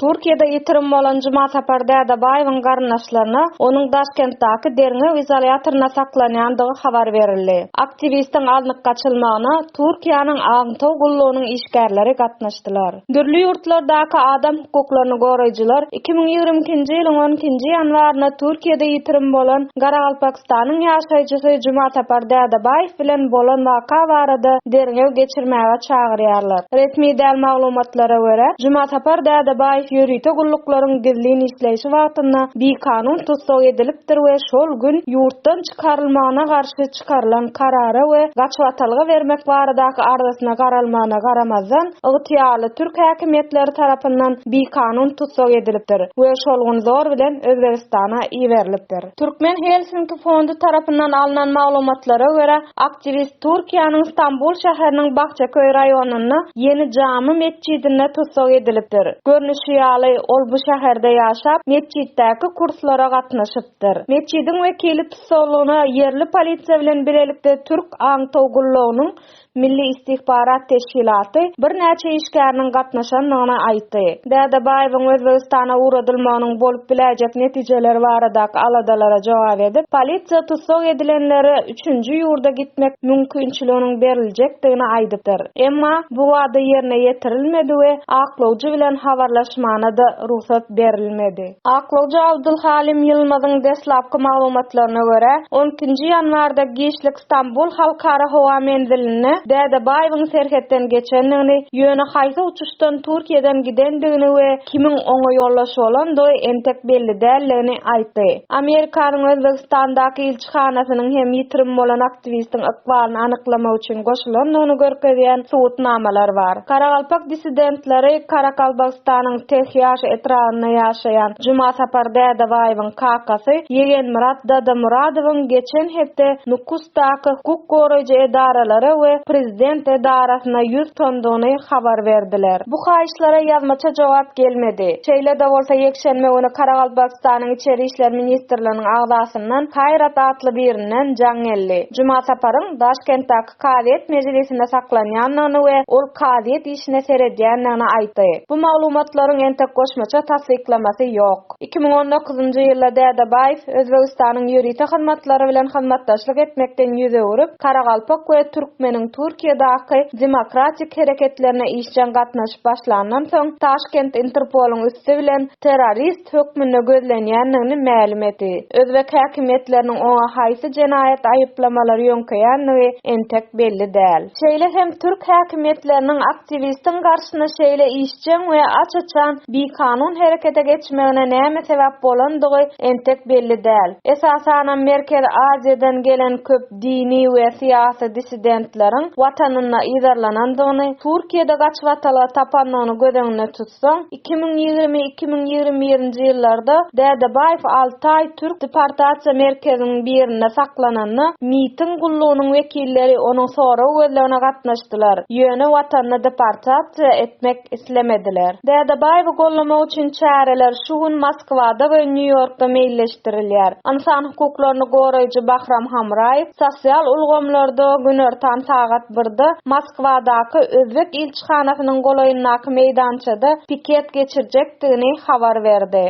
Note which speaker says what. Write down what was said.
Speaker 1: Türkiýede ýitirim bolan Jumasapar Dädebaýewiň garyndaşlaryna onuň Daşkentdäki derňew izolýatorynda saklanýandygy habar berildi. Aktiwistiň alnyp gaçylmagyna Türkiýäniň aňtaw gullugynyň işgärleri gatnaşdylar. Dürli ýurtlardaky adam hukuklaryny goraýjylar iki müň ýigrimi ikinji ýylyň on ikinji ýanwarynda Türkiýede ýitirim bolan Garagalpak Türkmenistanyň ýaşaýjysy Jumasapar Dädebaýew bilen bolan waka barada derňew geçirmäge çagyrýarlar. Resmi däl maglumatlara görä, Jumasapar Dädebaýew ýörite gulluklaryň gizlin işleýşi wagtynda bikanun tussag edilipdir we şol gün ýurtdan çykarylmagyna garşy çykarylan karara we gaçybatalga bermek baradaky arzasyna garalmagyna garamazdan, ygtyýarly türk häkimiýetleri tarapyndan bikanun tussag edilipdir we şol gün zor bilen Özbegistana iberilipdir. Türkmen Helsinki fondy tarapyndan alnan maglumatlara görä, aktiwist Türkiýäniň Stambul şäheriniň Bahçeköy raýonynda Ýeni Jamy metjidinde tussag edilipdir. Görnüşi ýaly, ol bu şäherde ýaşap, metjitdäki kurslara gatnaşypdyr. Metjidiň wekili tussaglygyna ýerli polisiýa bilen bilelikde türk aňtaw gullugynyň Milli istihbarat teşkilaty birnäçe işgäriniň gatnaşandygyny aýtdy. Dädebaýewiň Özbegistana ugradylmagynyň bolup biläýjek netijeleri baradaky aladalara jogap edip, polisiýa tussag edilenlere üçünji ýurda gitmek mümkinçiliginiň beriljekdigini aýdypdyr. Emma bu wada ýerine ýetirilmedi we aklawjy bilen habarlaşmana-da rugsat berilmedi. Aklawjy Abdulhalim Ýylmazyň deslapky maglumatlaryna görä, on ikinji ýanwarda giçlik Stambul halkara howa menzilinde Dädebaýewiň serhetden geçendigini, ýöne haýsy uçuşdan Türkiýeden gidendigini we kimiň oňa ýoldaş bolandygy entek belli däldigini aýtdy. Amerikanyň Özbegistandaky ilçihanasynyň hem ýitirim bolan aktiwistiň ykbalyny anyklamak üçin goşulandygyny görkezýän subutnamalar bar. Karagalpak dissidentleri Karakalbagystanyň Tehýaş etrabynda ýaşaýan Jumasapar Dädebaýewiň, Kakasy Ýegenmyrat Dadamyradowyň geçen hepde Nukusdaky hukuk goraýjy edaralara we prezident edarasyna ýüz tutandygyny habar berdiler. Bu haýyşlara ýazmaça jogap gelmedi. Şeýle-de bolsa, ýekşenbe güni Karagalpakystanyň Içeri işler ministrliginiň agzasyndan Kaýrat atly birinden jaň geldi. Jumasaparyň Daşkentdäki kazyýet mejlisinde saklanýandygyny we ol kazyýet işine seredýändigini aýtdy. Bu maglumatlaryň entek goşmaça tassyklamasy ýok. Iki müň on dokuzynjy ýylda Dädebaýew Özbegistanyň ýörite hyzmatlary bilen hyzmatdaşlyk etmekden ýüz öwrüp, Karagalpak we Türkmeniň Türkiýedaky demokratik hereketlerine işjeň gatnaşyp başlandan soň, Taşkent Interpolyň üsti bilen, terrorist hökmünde gözlenýändigini mälim etdi. Özbek häkimiýetleriniň oňa haýsy jenaýat aýyplamalary ýöňkeýändigi entek belli däl. Şeýle hem türk häkimiýetleriniň aktiwistiň garşyna şeýle işjeň we aç-açan bikanun herekete geçmegine näme sebäp bolandygy entek belli däl. Esasanam Merkezi Aziýadan gelen köp dini we syýasy dissidentleriň Watanynda yzarlanandygyny, Türkiýede gaçybatalga tapandygyny göz öňünde tutsak, Soň iki müň ýigrimi, iki müň ýigrimi birinji ýyllarda Dädebaýew Altaý türk deportasiýa merkeziniň birinde saklananda, MIT-iň gullugynyň wekilleri onuň sorag gözlegine gatnaşdylar, ýöne watanyna deportasiýa etmek islemediler. Dädebaýewi gollamak üçin çäreler şu gün Moskwada we Nýu-Ýorkda meýilleşdirilýär. Ynsan hukuklaryny goraýjy Bahram Hamraýew sosial ulgamlarda günortan sagat birde Moskwadaky özbek çakyşhanasynyň golaýyndaky meýdançada piket geçirjekdigini habar berdi.